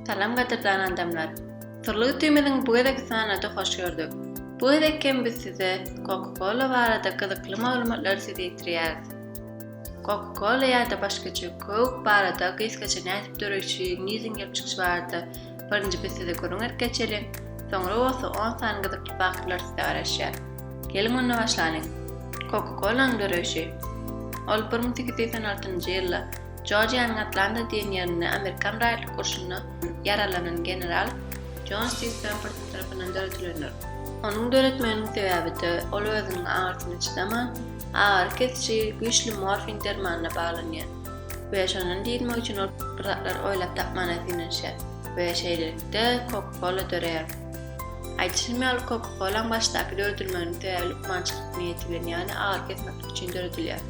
Salam gadyrdan adamlar. Syrly ütimiziň bu gezeki sanady hoş gördük. Bu gezek hem biz size Coca Cola barada gyzykly maglumatlary size ýetirýäris. Coca Cola ýa-da başgaça Coke barada gysgaça nädip döreýşi, nirden gelip çykyşy barada birinji biz size gürrüň edip geçeli, soňra bolsa on sany gyzykly faktlar size garaşýar. Geliň onda başlanyň. Coca Colanyň döreýşi. Ol bir müň sekiz ýüz on altynjy ýylda Jorjiýanyň Atlanta diýen ýerinde amerikan raýatlyk urşunda ýaralanan general Jon Stig Pemberton tarapyndan döredilendir. Onuň döretmeginiň sebäbi-de, ol özüniň agyrysyna çydaman, agyry kesiji güýçli morfin dermanyna baglanyar we şondan diýdirmek üçin ol bir zatlar oýlap tapmana synanyşýar we şeýlelikde Coca-Cola döreýär. Aýdyşym ýaly, Coca-Cola-nyň başdaky döredilmeginiň sebäbi lukmançylyk niýeti bilen, ýagny agyry kesmeklik üçin döredilýär.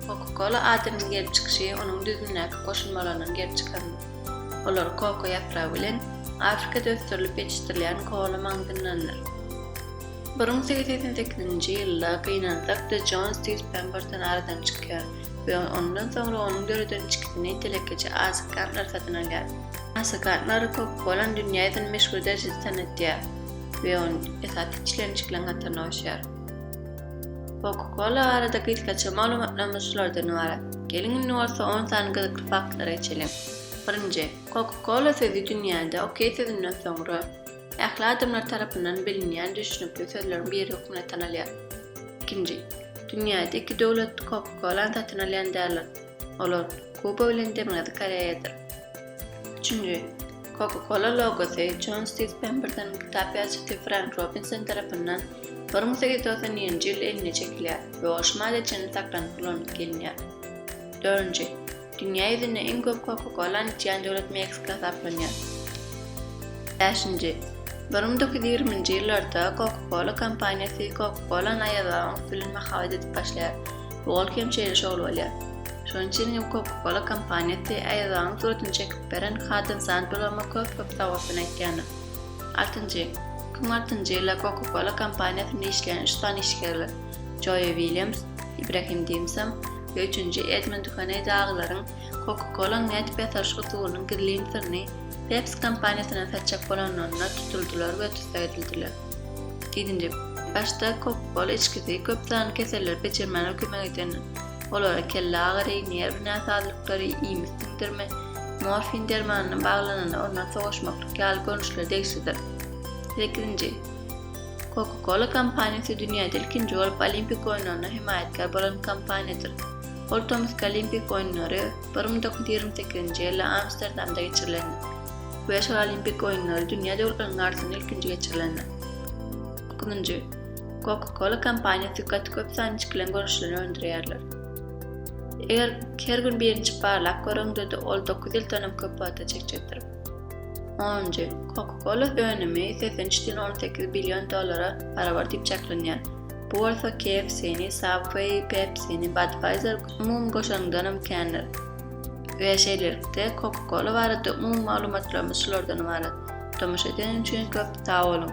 Koka-kola adynyň gelip çykyşy onuň düzümdäki goşulmalaryndan gelip çykan. Olar koko ýapragy bilen Afrikada ösdürilip ýetişdirilýän kola maňzyndandyr. Bir müň sekiz ýüz segsen sekizinji ýylda gynansak de Jon Stiws Pemberton aradan çykýar we ondan soňra onuň döreden içgisini telekeçi Asa Gantner satyn alýar. Asa Gantner koka-kolany dünýä ýüzünde meşhur derejede tanatýar we ony esasy içilen içgileň hataryna goşýar. Coca-Cola barada gysgaça maglumatlarymyz şulardan ybarat. Geliň indi bolsa on sany gyzykly faktlara geçeliň. Birinji, Coca-Cola sözi dünýäde OK sözünden soňra, ähli adamlar tarapyndan bilinýän düşnükli sözleriň biri hökmünde tanalýar. Ikinji, dünýäde iki döwlet Coca-Cola-ny satyn alýan däldir. Olar Kuba bilen Demirgazyk Koreýadyr. Üçünji, Coca-Cola logosy Jon Stis Pemberden kitap ýazyjysy Frenk Robinson tarapyndan bir müň sekiz ýüz togsan nji ýyl eline çekilýär we o şmale çenli saklanyp ulanyp gelinýär. Dördünji, Dünýä ýüzünde iň köp Coca-Colany içýän döwlet Meksika hasaplanýar. Bäşinji, bir müň dokuz ýüz ýigrimi nji ýyllarda Coca-Cola kompaniýasy Coca-Colany aýazgabyň üsti bilen mahabat edip başlaýar. Ol hem şeýle şowly bolýar. Şonuň üçin hem Coca-Cola kompaniýasy Aýazbagyň suratyn çekip beren Hadyň San Peloma köp-köp sagbossun aýtýarlar. Altynjy. Iki müň altynjy ýylda Coca-Cola kompaniýasynda işleýän üç sany işgärler, Joe Williams, Ibrahim Dimsam we üçünji Edmund Duhaney dagylaryň Coca-Cola-nyň nädip ýasalyş usulynyň gizlin syryny Pepsi kompaniýasyndan satjak bolanlarynda tutuldylar we tussag edildiler. Ýedinji. Başda kop bol içgisi köp sanly keselleri peçirmäne kömek edendir. Olara kelle agyry, nerw näsazlyklary, iýmit siňdirme, morfin dermanyna baglananda ondan sowaşmaklyk ýaly görnüşler degişlidir. Sekizinji. Coca-Cola kompaniýasy dünýäde ilkinji bolup Olimpik oýunlaryna hemaýatkär bolan kompaniýadyr. Ol tomusky Olimpik oýunlary bir müň dokuz ýüz ýigrimi sekizinji ýylda Amsterdamda geçirilendir. Beş gal Olimpik oýunlary dünýä döwürleriniň arasynda ilkinji geçirilendir. Nji. Coca-Cola kompaniýasy gaty köp sany içgileň görnüşlerini öndürýärler. Eger her gün birinji barlap göreňde-de ol dokuz ýyldan hem köp wagta çekjekdir. Onunjy. Coca-Cola önümi segsen üç diýen on sekiz billion dollara barabar diýip çaklanýar. Bu bolsa KFC-ni, Subway, Pepsi-ni, Budweiser umumy goşaryňdan hem kändir. We şeýlelikde Coca Cola barada umumy maglumatlarymyz şulardan ybarat. Tomaşa edeniň üçin köp sag boluň.